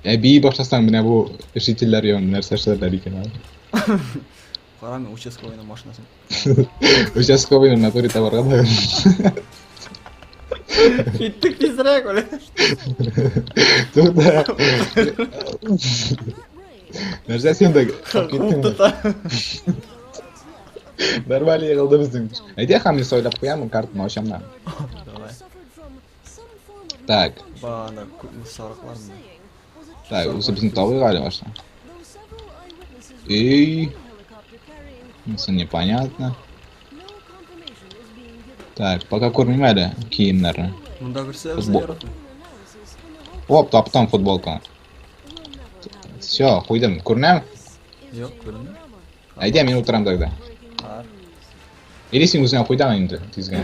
Ә бии башласаң, менә бу жительләр янында нәрсә эшләрләр икән әле? Карам, участковыйның машинасын. Участковыйның натуре табарга да. Киттек тизрәк, үлә. Туда. Нәрсә сен дә киттең? Тота. Нормально егылды безнең. Әйдә, Хамис, ойлап куямын, картаны ачам да. Так. Бана, сарыклар мына. Так, узы безне табый гали башта. Эй. Мысы непонятно. Так, пока кормим әле киемнәрне. Монда берсе Футбол. Оп, таптым футболка. Все, куйдым. Күренәм? Юк, күренмә. Әйдә, мин утырам тогда. Или син үзеңә куй да инде тизгә.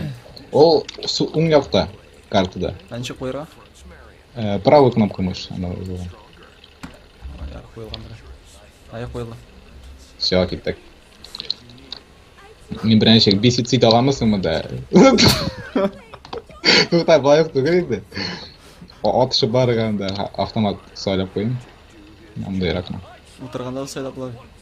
Ул су уң якта картада. Ә ничек куярга? Э, правый кнопка мышь, она вызывала. Аяк куелган бер. Аяк куелды. Все, киттек. Мин беренче бесицид аламысыңмы да? Тукта, былай ук түгел инде. Атышы барганда автомат сайлап куйым. Андайракмы. Утырганда да сайлап була.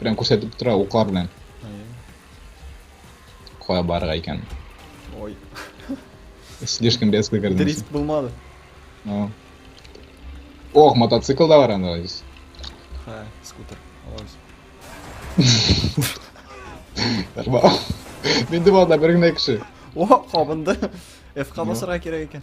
Прям күрсәтеп тора уклар белән. Кая барырга икән? Ой. Слишком резко кердем. Дрифт булмады. Ну. Ох, мотоцикл да бар анда. Ха, скутер. Алабыз. Нормально. Мен дималда бер генә кеше. О, кабынды. F-ка басырга кирәк икән.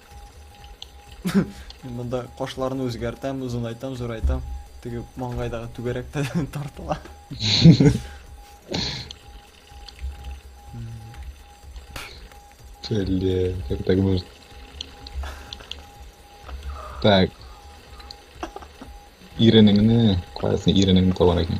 Мин монда кашларны үзгәртәм, озынайтам, зурайтам. Теге маңгайдагы түгәрәктә тартыла. Блин, как так можно? Так. Иренеңне, куәсен иренеңне табар екен.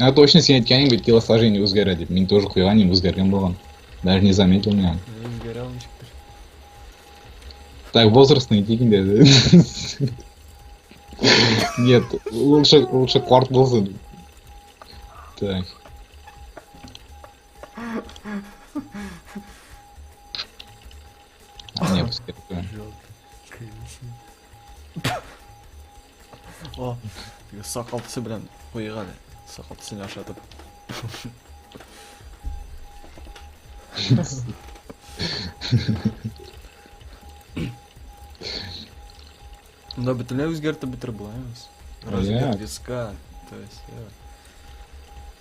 А точно сен әйткәнең бит телосложение үзгәрә дип. Мин тоже куйган идем, үзгәргән булган. Даже не заметил меня. Үзгәрә ул ничектер. Так, возраст не дигин дә. Нет, лучше, лучше кварт булсын. Так. А, нет, пускай. Жалко, конечно. О, теге сакал төсе белән куйык әле. Сакал төсен ашатып. Да, бөтенләй үзгәртеп бетереп була эмас. Размер Аяк. виска, то есть, э,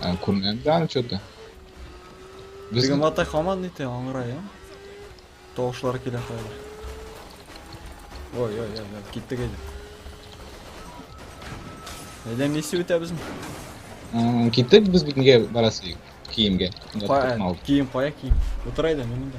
А, күрмәдем дә аны что-то. Без Теге мата хаман ите аңгыра я. Тавышлар килә хәзер. Ой, ой, ой, ой, киттек әйдә. Әйдә миссия үтәбезме? М, киттек без бит нигә барасы киемгә. Кием кая кием? Утырайда мин монда.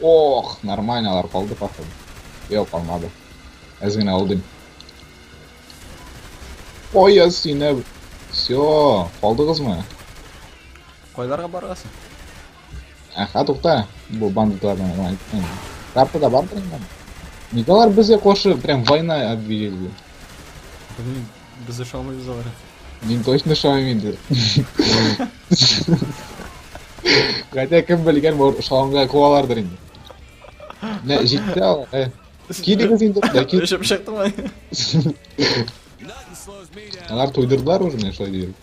Ох, нормальнолар калды походу. Йо, калмады. Әз генә алдым. Ой, я сине. Все, калдыгызмы? Кайларга барасың? Әхә, тукта. Бу бандитлардан гына әйттем. Картада бардыр инде. Николар безгә каршы прям война объявили. Белмим. Без ошамыйбыз алар. Мин точно ошамыйм инде. Хотя кем белгән, может, ошаганга куалардыр инде. Менә җитте алар. Э. Килегез инде, да кил. Өшеп чыктыңмы? Алар туйдырдылар уже, менә шулай диеп.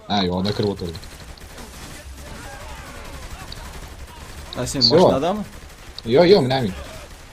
А, юк, ана кереп отырды. А сен машинадамы? Йо, йо, менә мин.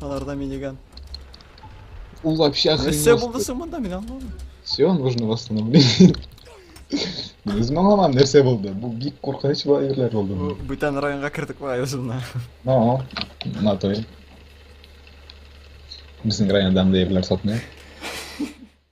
Аларда миниган. Он вообще Нәрсә охренел. булды соң монда мин аңламыйм. Все, нужно восстановление. Без маңламам нәрсә булды. Бу бик куркыныч бу әйберләр Бу булды. бүтән районга кердек бай үзенә. Но, на той. Безнең районда андый әйберләр сатмый.